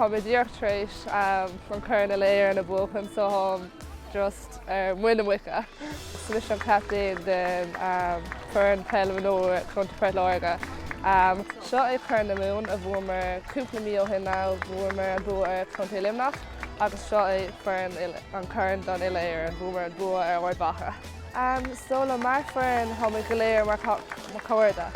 Tá mé díreach tar éis an corn uile-Éireann a bhuachan so táim just ar muin na muice. Is mise an captaen den foireann peil mhionúir Contae Phort Láirge. Seo é Corn na Mumhan a bhuamar cúpla mí ó shin nó bhuamar an bua ar Chontae Luimneach agus seo é an corn don uile-Éireann, bhuamar an bua ar Ard Mhacha. So like mar foireann, táimid go léir mar chairde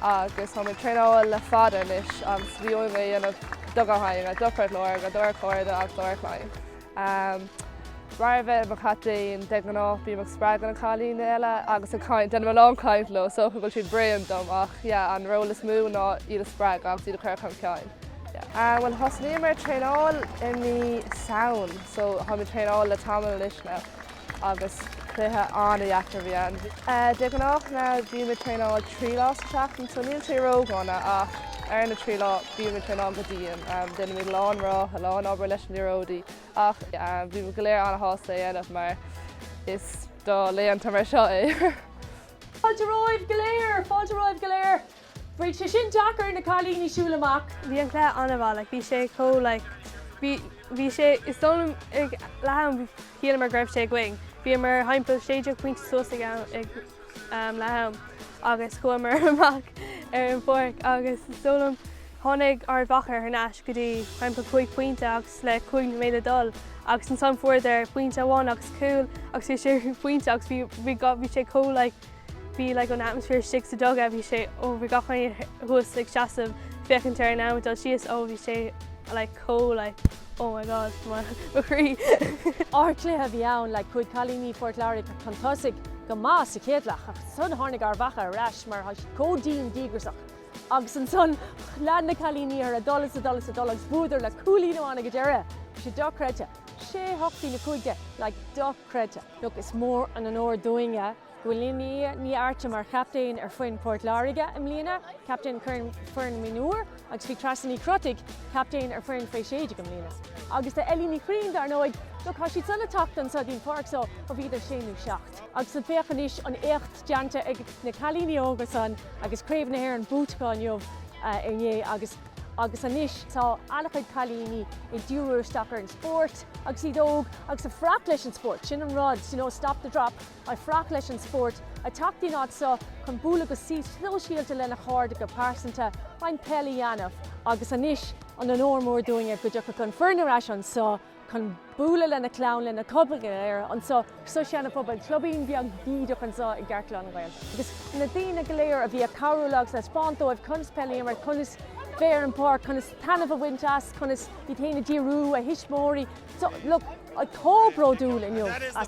agus táimid ag traenáil le fada anois agus bhíomar á dhéanamh do gach éinne, do Phort Láirge, dár gcairde agus dár gclann. Mar a bheith i mo chaptaen, de ghnáth bím ag spreagadh na cailíní eile agus ag caint, déanaim a lán caint leo, is dócha go bhfuil siad bréan dom ach yeah, an ról is mó ná iad a spreagadh agus iad a chur chun cinn. Yeah. Bhuel, thosnaíomar traenáil i mí Samhain so táimid ag traenáil le tamall anois now. agus cluiche an-deacair a bhí ann. De ghnáth bímid ag traenáil trí lá sa tseachtain so níl sé ródhona ach ar na trí lá bímid ag traenáil go dian. Déanaimid a lán reatha, a lán obair leis na liathróidí ach bhíomar go léir an-sásta é a dhéanamh mar is do laethanta mar seo é. Fáilte romhaibh go léir! Fáilte romhaibh go léir! Bheadh sé sin deacair ar na cailíní siúl amach. Bhí an cluiche an-mhaith like bhí sé chomh like bhí bhí sé is dóigh liom ag leath am shíleamar go raibh sé againn. Bhíomar thimpeall sé deag pointe suas ag am ag um leath am agus chuamar amach ar an pháirc agus is dóigh liom tháinig Ard Mhacha thar n-ais go dtí thimpeall cúig pointe agus le cúig nóiméad le dul agus ansan fuaireadar pointe amháin agus cúl agus bhí sé pointe agus bhí bhí bhí sé chomh like Bhí like an atmosphere istigh sa dugout bhí sé ó bhí gach éinne thuas ag seasamh féachaint ar an am ag dul síos ó bhí sé like chomh like oh my god mo mo chroí. Ardchluiche a bhí ann like chuaigh cailíní Phort Láirge chun tosaigh go maith sa chéad leath ach ansan tháinig Ard Mhacha ar ais mar tá siad chomh dian díograsach agus ansan lean na cailíní orthu ag dul is ag dul is ag dul agus bhuadar le cúilín amháin ag an deireadh. Bhí sé dochreidte. 6 8 dtína cúig deich like dochreidte. Look, is mór an onóir dúinne go bhfuil Lia Ní Arta mar chaptaen ar foireann Port Láirge i mbliana, captaen ar foireann mionúir agus bhí Treasa Ní Chrotaigh captaen ar foireann Faoi 16 i mbliana. Agus tá Ellie Ní Chuirrín dar ndóigh, look, thá siadsan ag teacht anso dtí'n pháirc so ó bhíodar sé nó seacht. Agus féach anois an éacht déanta ag na cailíní óga san agus Craobh na hÉireann buaite acu inniu, inné. Agus anois tá an-chuid cailíní ag díriú isteach ar an spórt agus iad óg agus ag fanacht leis an spórt, sin an rud, you know, stop the drop, ag fanacht leis an spórt, ag teacht dtí'n áit so chun bualadh go sóisialta lena chairde, go pearsanta, roinnt peil a dhéanamh. Agus anois an onóir mór dúinne go dtiocfadh an foireann ar ais anso. chun bualadh lena clann, lena comhghleacaithe anseo sa Sean Phobal, clubín beag bídeach anseo i gceartlár na nGael. Agus na daoine go léir a bhí ag cabhrú léi agus a thaispeáint dóibh conas peil a imirt, conas bheith ar an pháirc, conas taitneamh a bhaint as, conas iad féin a dhíriú, a thuismitheoirí, so, look, chomh bródúil inniu as.